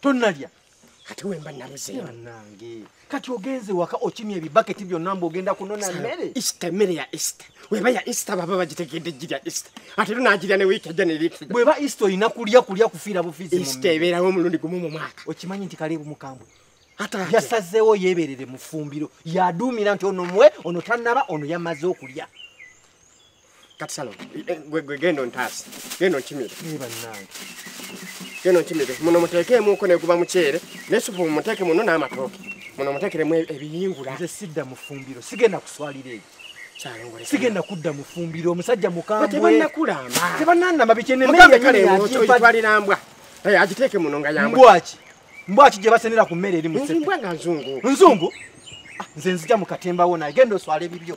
tonalya kati wemba naluzeyo nange kati ogenze waka okimya ebibaketi byonna mbu ogenda kunona mmere isita emmere ya isita weba ya isita baba bagitegedde girya isita ate era nagirya ne wiiki ejja neriitu bweba isita olina kulya kulya kufiira bufizi isita ebeerawo omulundi gumu mu mwaka okimanyi nti kaleebu mukambwe yasazeewo yeeberere mu ffumbiro yaduumira nti ono muwe ono tanaba ono yamaze okulya kati salo eh, eh, gwe gwe gendo ntasi gendo nchimire niba nange gendo nchimire muno muteke muko ne kuba muchere nesupu muteke muno na matoke muno mutekere mwe ebiyingura nze sidda mufumbiro sigenda kuswalira ebi sigenda kudda mufumbiro omusajja mukambwetebananamabikenenmbwa eh, agiteeke muno nga yambwaki mbwaki gye basenera ku mmere eri mumbwa nga nzungu nzungu ah, nze nzija mukatembawo naye genda oswala ebibyo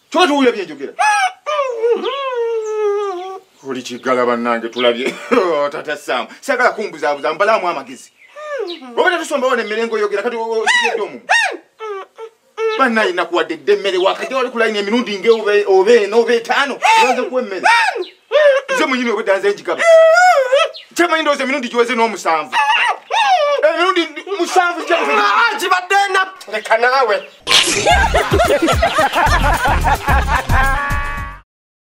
kyoba towulira byenjogera oli kiggala bannange tulabye oh, tata saamu sagala kumbuzaabuza mbalaamu amagezi oba tatusombawo nemmere ngaoyogera kati okiedde omumu banna yinakuwadde dde emmere wakajja wali kulayina emirundi ngaoba ena oba etaano oanze kuwa emmere nze munyini obwedda nze njigaba kyemanyi ndowooza emirundi giweze n'omusanvu emirundi musanvu gibadde na leka naawe